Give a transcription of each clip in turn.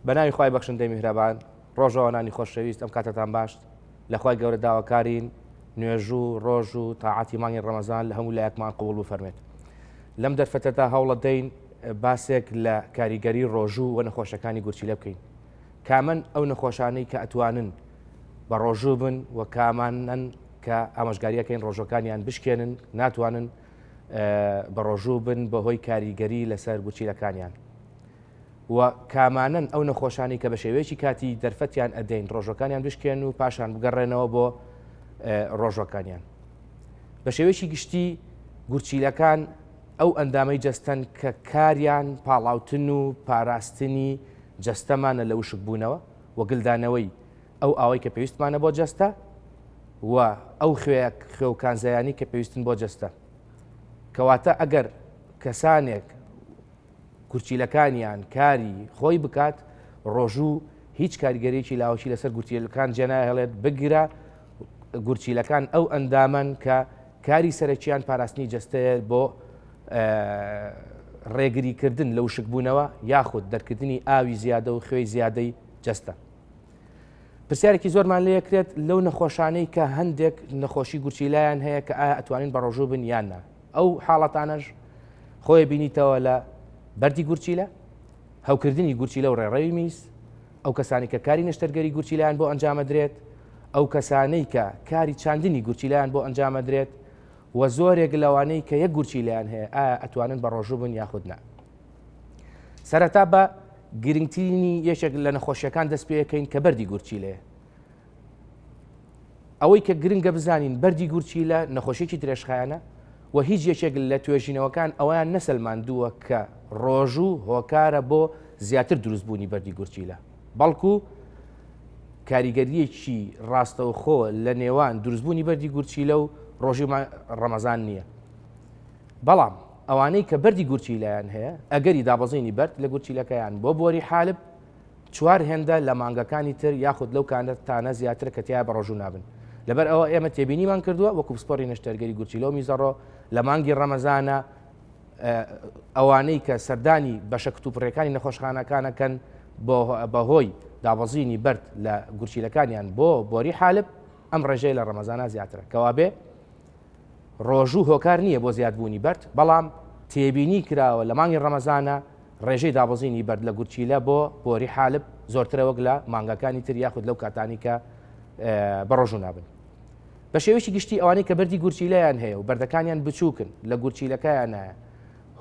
بەناوی خی بەخشندەی میهرەبان ڕۆژەوانانی خۆشەویست ئەم کاتتان باشت لەخوای گەورە داواکارین نوێژوو ڕۆژ و تاعاتی مانگی ڕەمەزان لە هەموو لایەکمان قوڵ و فەرمێت لەم دەرفەتەدا هەوڵە دەین باسێک لە کاریگەری ڕۆژوو و نەخۆشەکانی گورچیلە بکەین کامن ئەو نەخۆشانەی کە ئەتوانن بە ڕۆژوو بن و کامانەن کە ئامۆژگاریەکەین ڕۆژەکانیان بشکێنن ناتوانن بە ڕۆژوو بن بەهۆی کاریگەری لەسەر گوچیلەکانیان و کامانن ئەو نەخۆشانی کە بە شێوەیەکی کاتی دەرفەتیان ئەدەین ڕۆژەکانیان بشکێن و پاشان بگەڕێنەوە بۆ ڕۆژەکانیان بە شێوەیەکی گشتی گورچیلەکان ئەو ئەندامەی جەستەن کە کاریان پاڵاوتن و پاراستنی جەستەمانە لە وشک بوونەوە وەگلدانەوەی ئەو ئاوەی کە پێویستمانە بۆ جەستە و ئەو خوێ خوێ و کانزایانی کە پێویستن بۆ جەستە کەواتە ئەگەر کەسانێک کورچیلەکانیان کاری خۆی بکات ڕۆژوو هیچ کاریگەریی لاوەکی لەسەر گوتیلەکان جێناهێڵێت بگرە گورچیلەکان ئەو ئەندامەن کە کاری سەرەکییان پاراستنی جستەیە بۆ ڕێگریکردن لە وشکبوونەوە یاخود دەرکردنی ئاوی زیادە و خوێی زیادەی جستە پرسیارێکی زۆرمان لێ کرێت لەو نەخۆشانەی کە هەندێک نەخۆشی گورچیلایان هەیە کە ئایا ئەتوانین بەڕۆژوو بن یاننا ئەو حاڵەتانەش خۆی بینیتەوە لە بەری گورچیلە هەوکردنی گورچیلە و ڕێڕەوی میز ئەو کەسانی کە کاری نەشتەرگەری گورچیلان بۆ ئەنجامەدرێت ئەو کەسانەی کە کاری چاندنی گورچیلان بۆ ئەنجامەدرێت و زۆرێک لەوانەی کە یە گورچیلیان هەیە ئەتوانن بە ڕۆژوو بن یاخودنا سەرەتا بە گرنگترینی یەکێک لە نەخۆشیەکان دەست پێەکەین کە بەری گورچیلەیە ئەوەی کە گرنگە بزانین بەری گورچیلە نەخۆشیێکی درێژخایەنە و هیچ یەکێک لە توێژینەوەکان ئەویان نەسەلماندووە کە ڕۆژوو هۆکارە بۆ زیاتر دروستبوونی بەری گورچیلە بەڵکو کاریگەریەکی ڕاستەوخۆ لە نێوان دروستبوونی بەری گورچیلە و ڕۆژی ڕەمەزان نییە بەڵام ئەوانەی کە بەردی گورچیلەیان هەیە، ئەگەری دابەزینی بەرد لە گورچیلەکەیان بۆ بۆری حالب چوار هێندە لە مانگەکانی تر یاخود لەو کاتانە زیاترە کە تیایا بەڕۆژوو نابن. لەبەر ئەوە ئێمە تێبینیمان کردووە وەکو پسپۆری نەشتەرگەری گورچیلە و میزەڕۆ لە مانگی ڕەمەزانە ئەوانەی کە سەردانی بەشە کتوپڕیەکانی نەخۆشخانەکان ئەکەن بەهۆی دابەزینی بەرد لە گورچیلەکانیان بۆ بۆری حالب ئەم ڕێژەیە لە ڕەمەزانە زیاترە کەوابێ ڕۆژوو هۆکار نییە بۆ زیادبوونی بەرد، بەڵام تێبینی کراوە لە مانگی ڕەمەزانە ڕێژەی دابەزینی بەرد لە گورچیلە بۆ بۆری حالب زۆرترە وەک لە مانگەکانی تر یاخود لەو کاتانەی کە بە ڕۆژوو نابن. بە شێوەیەکی گشتی ئەوانەی کە بەردی گورچیلەیان هەیە و بەردەکانیان بچووکن لە گورچیلەکەیانایە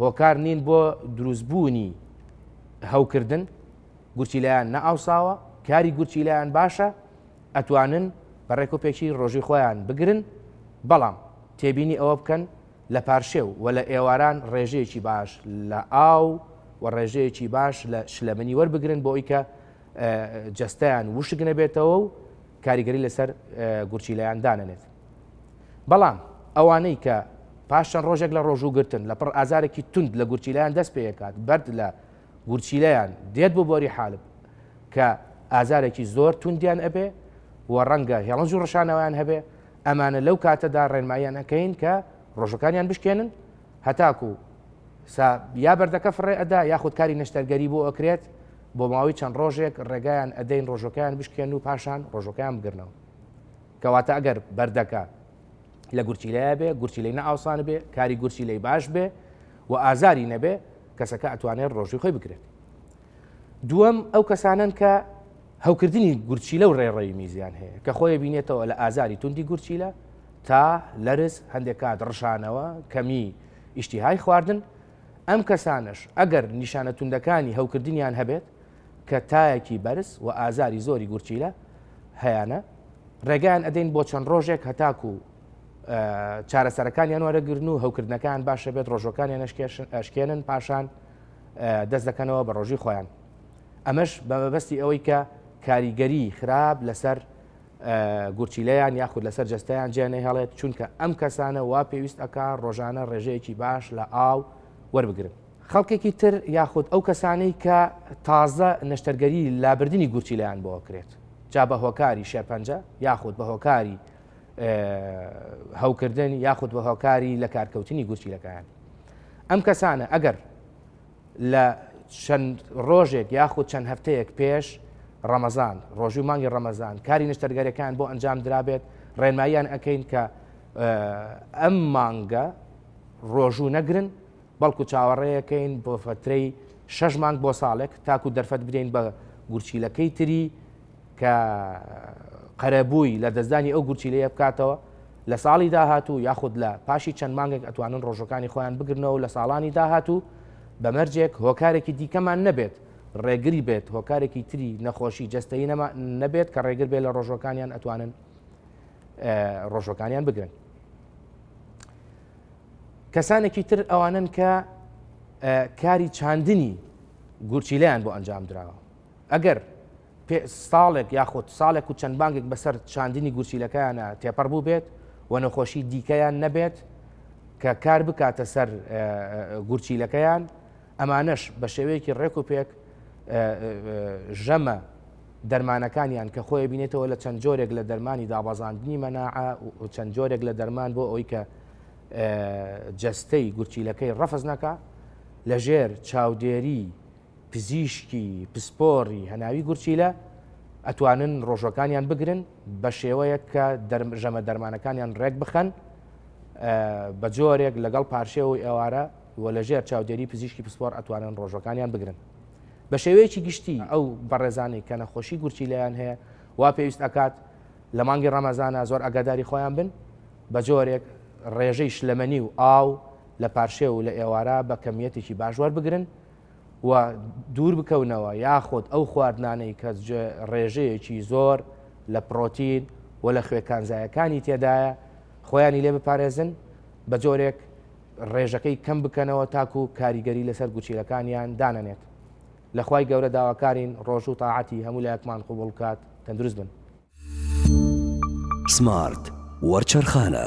هۆکار نین بۆ دروستبوونی هەوکردن، گورچیلەیان نەئاوساوە، کاری گورچیلەیان باشە، ئەتوانن بە ڕێک و پێکی ڕۆژی خۆیان بگرن، بەڵام تێبینی ئەوە بکەن لە پارشێو و لە ئێواران ڕێژەیەکی باش لە ئاو و ڕێژەیەکی باش لە شلەمەنی وەربگرن بۆ ئەوی کە جەستەیان وشک نەبێتەوە و کاریگەری لەسەر گورچیلەیان دانەنێت بەڵام ئەوانەی کە پاشان ڕۆژێک لە ڕۆژوو گرتن لە پڕ ئازارێکی تونند لە گورچیلان دەست پێکات بەرد لە گورچیلەیان دێت بۆ بۆری حالب کە ئازارێکی زۆر توندیان ئەبێ و ڕەنگە هێڵنج و ڕشانەوەیان هەبێ ئەمانە لەو کاتەدا ڕێنماییان ئەەکەین کە ڕۆژەکانیان بشکێنن هەتاکو یا بەردەکە فڕێ ئەدا یاخود کاری نەشتەرگەری بۆ ئەکرێت بۆ ماوەی چەند ڕۆژێک ڕێگایان ئەدەین ڕۆژەکەیان بشکێن و پاشان ڕۆژەکەیان بگرنەوە کەواتە ئەگەر بەردەکە لە گورچیلەیە بێ گورچیلەی نەئاوسان بێ کاری گورچیلەی باش بێ و ئازاری نەبێ کەسەکە ئەتوانێت ڕۆژی خۆی بکرێت دووەم ئەو کەسانن کە هەوکردنی گورچیلە و ڕێڕەوی میزیان هەیە کە خۆی بینێتەوە لە ئازاری توندی گورچیلە تا لەرز هەندێک کات ڕشانەوە کەمی ئیشتیهای خواردن ئەم کەسانش ئەگەر نیشانە توندەکانی هەوکردنیان هەبێت کە تایەکی بەرز و ئازاری زۆری گورچیلە هەیانە، ڕێگایان ئەدەین بۆ چەند ڕۆژێک هەتاکو چارەسەرەکانیان وەرەگرن و هەوکردنەکان باشە بێت ڕۆژەکانیان ئەشکێنن پاشان دەست دەکەنەوە بە ڕۆژی خۆیان ئەمەش بە مەبەستی ئەوەی کە کاریگەری خراپ لەسەر گورچیلەیان یاخود لەسەر جستیان جێنە هەڵێت چونکە ئەم کەسانە وا پێویست ئەک ڕۆژانە ڕێژەیەکی باش لە ئاو وەربگرن خەڵکێکی تر یاخود ئەو کەسانەی کە تازە نەشتەرگەری لابردنی گورچیلیان بۆ کرێت جا بە هۆکاری شێرپەنجە یاخود بە هۆکاری هەوکردن یاخود بە هۆکاری لە کارکەوتنی گورچیلەکان ئەم کەسانە ئەگەر لە چەند ڕۆژێک یاخود چەند هەفتەیەک پێش ڕەمەزان ڕۆژی و مانگی ڕەمەزان کاری نیشتەرگەرەکان بۆ ئەنجام درابێت ڕێنماییان ئەەکەین کە ئەم مانگە ڕۆژوو نەگرن بەڵکو چاوەڕێکەین بۆ فەترەی شەش مانگ بۆ ساڵێک تاکو دەرفەت بدەین بە گورچیلەکەی تری کە قەرەبووی لە دەستدانی ئەو گورچیلەیە بکاتەوە لە ساڵی داهاتوو یاخود لە پاشی چەند مانگێک ئەتوانن ڕۆژەکانی خۆیان بگرنەوە لە ساڵانی داهاتوو بەمەرجێک هۆکارێکی دیکەمان نەبێت ڕێگری بێت هۆکارێکی تری نەخۆشی جستەی نەما نەبێت کە ڕێگر بێت لە ڕۆژەکانیان ئەتوانن ڕۆژەکانیان بگرن کەسانێکی تر ئەوانن کە کاری چاندنی گورچیلیان بۆ ئەنجام دراوە ئەگەر ساڵێک یاخود ساڵێک و چەند بانگێک بەسەر چاندنی گورچیلەکەیانە تێپەڕ بوو بێت و نەخۆشی دیکەیان نەبێت کە کار بکاتە سەر گورچیلەکەیان ئەمانەش بە شێوەیەکی ڕێک و پێک ژەمە دەرمانەکانیان کە خۆی بینێتەوە لە چەند جۆرێک لە دەرمانی دابازاندنی مەناعە و چەند جۆرێک لە دەرمان بۆ ئەوی کە جەستەی گورچیلەکەی ڕەفز نەکا لەژێر چاودێری پزیشکی پسپۆری هەناوی گورچیلە ئەتوانن ڕۆژەکانیان بگرن بە شێوەیەک کە ژەمە دەرمانەکانیان ڕێک بخەن بە جۆرێک لەگەڵ پارشێەوەی ئێوارە و لەژێر چاودێری پزیشکی پسپۆر ئەتوانن ڕۆژەکانیان بگرن بە شێوەیەکی گشتی ئەو بەڕێزانەی کە نەخۆشی گورچیلیان هەیە وا پێویست ئەکات لە مانگی ڕەمەزانە زۆر ئەگاداری خۆیان بن بە جۆرێک ڕێژەی شلەمەنی و ئاو لە پارشێو و لە ئێوارە بە کەمییەتێکی باش وەربگرن و دوور بکەونەوە یاخود ئەو خواردنانەی کە ڕێژەیەکی زۆر لە پڕۆتین و لە خوێ کانزایەکانی تێدایە خۆیانی لێ بپارێزن بە جۆرێک ڕێژەکەی کەم بکەنەوە تاکو کاریگەری لەسەر گوچیلەکانیان دانەنێت لەخوای گەورە داواکارین ڕۆژوو تاعاتی هەموو لایەکمان قوبڵ بکات تەندروست بن سمارت وەرچەرخانە.